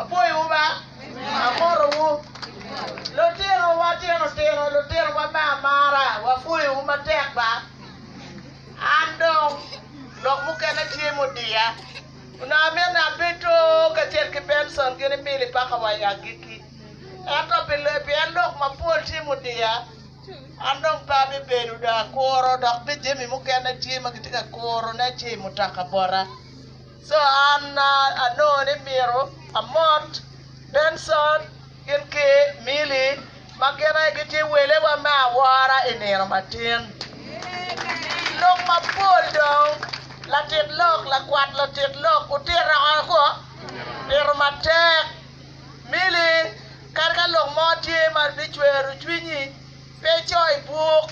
Apwoyowu ba. Amotowu. Lutino wa tino tino, lutino wa me amara, wapwoyowu matek ba. An dong, lok mukene tye mudiya. Onongo amyero abedo kacel ki Benson ki ni Milly paka wa i agikki. Ento pi pien lok mapol tye mudiya, an dong pe abibedo dong akuro, dok bene jami mukene tye ma kitye ka kurone ce i mutaka bota. Co an anongo ni myero amot Benson gin ki Milly ma gin aye gitye welewa me awora i nino matin. Lok mapol dong latit lok, lakwat latit lok otito oko, tito matek. Milly, kadi ka lok mo tye ma bicwero cwinyi, pe ico i bwok.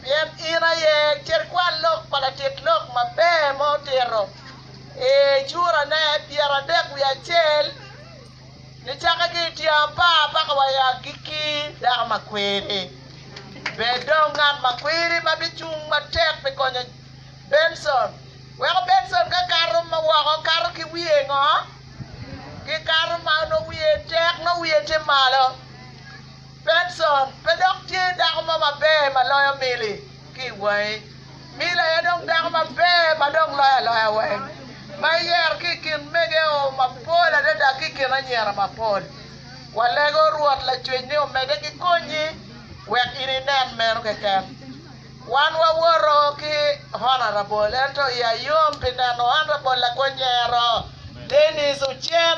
Pien in aye carkwal lok pa latit lok maber ma otito i curane pyeradek wiye acel, nicake ki i tyeng apar paka wa i agikki. Dako makwiri, bed dong ngat makwiri ma bicung matek pi konyo Benson. Weko Benson ka kato ma woko kato ki wiye ngo? Ki kato ma nongo wiye tek, nongo wiye tye malo. Benson pe dok tye dako mo maber ma loyo Milly ki i wangi. Milly aye dong dako maber ma dong loyo aloya weng, ma eyero ki i kin megeo mapol adada ki i kin anyira mapol. Walego Rwot Lacwec ni omedde ki konyi wek in inen meno keken. Wan wawoto ki Honourable ento iya yom pi neno Honourable Lago Nyero Denis Ocen.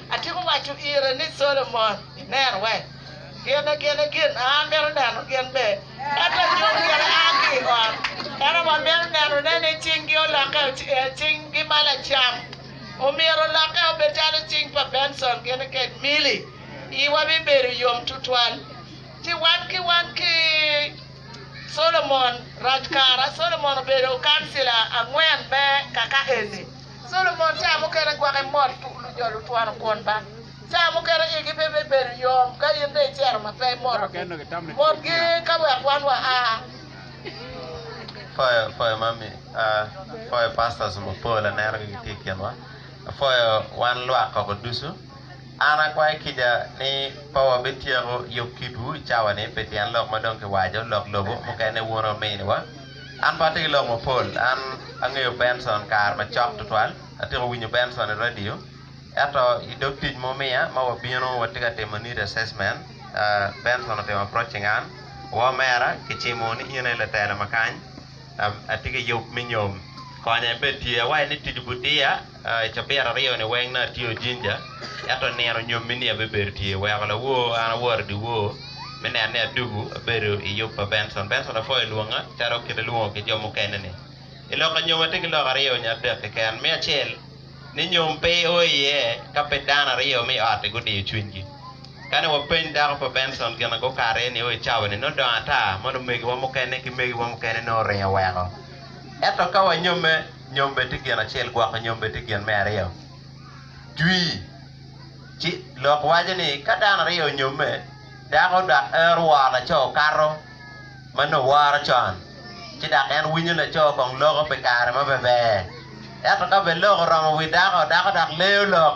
Atyeko waco ire ni, Solomon, inen wek gine gine gin a amito neno gin be, ento anyut gire a ki i ot. Ento wa mito nenone ni cinggi olokke ocing gi ma lacam. Omyero olokke obed calo cing pa Benson gini kec Milly. Iwa bibedo yom tutwal. Ci wan ki wan ki Solomon rac kara. Solomon obedo kancila angwen me kaka eni. Solomon ca mukene gwake mot tuk lujolo twano kwon ba. Ca mukene igi pe bibedo yom ka in dong icero ma pe imotogi. Motgi ka wek wan wa a. An akwayo kica ni pe wabityeko yub kitwu i cawa-ni pi tyen lok ma dong kiwaco, lok lobo mukene wun ominiwa. An pe atye ki lok mapol. An angeyo Benson kare macok tutwal, atyeko winyo Benson i radio, ento i dog tic ma wumiya ma wabino watye ka timo need assessment, Benson otemo approaching an, Woo mera, kicimo ni in aye latelo ma kany, atye ki yub me nyom, konya ibed tye. Awaco ni tic-gu diya. I cabit aryo-ni weng nongo atye ojinja ento nino nyomme-ni abebedo tye oweko lawor an aworo i dye wor me neno ni adwogo abedo i yub pa Bencon. Bencon apwoyo olwonga calo kit ma kilwongo ki jo mukene-ni. I loka nyomo atye ki lok aryo nyo adek keken. Me acel ni nyom pe o iye ka pe dano aryo me i ot-ti gudiyo cwinygi. Ka ni wapeny dako pa Bencon gin ma gukato iye-ni o i cawa-ni nongo dongo ata ma lumegiwa mukene ki megiwa mukene nongo oringo oweko. Ento ka wanyomme. Nyombe tye gin acel, gwoko nyombe tye gin me aryo. Jwi. Ci, lok waco ni ka dano aryo onyomme, dako dok en oworo laco okato ma nongo woro con, ci dok en winyo laco kong loko pi kare ma pe ber. Ento ka bene lok oromo wi dako, dako dok leyo lok.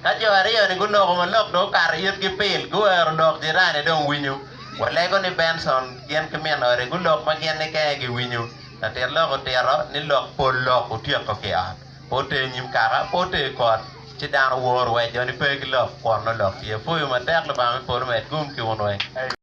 Ka jo aryo-ni guloko ma lok dong okato i itgi pil, guwero lok jirani dong winyo. Walego ni Benson gin ki min ode gulok ma gin ni kene giwinyo. Latit lok otito ni lok pol lok otyeko ki ot, pe oter nyim kaka, pe oter kot, ci dano woro wek jo ni pe ki lok, kwonno lok tye. Apuyo matek Lubanga me polo omed gum ki wun weng.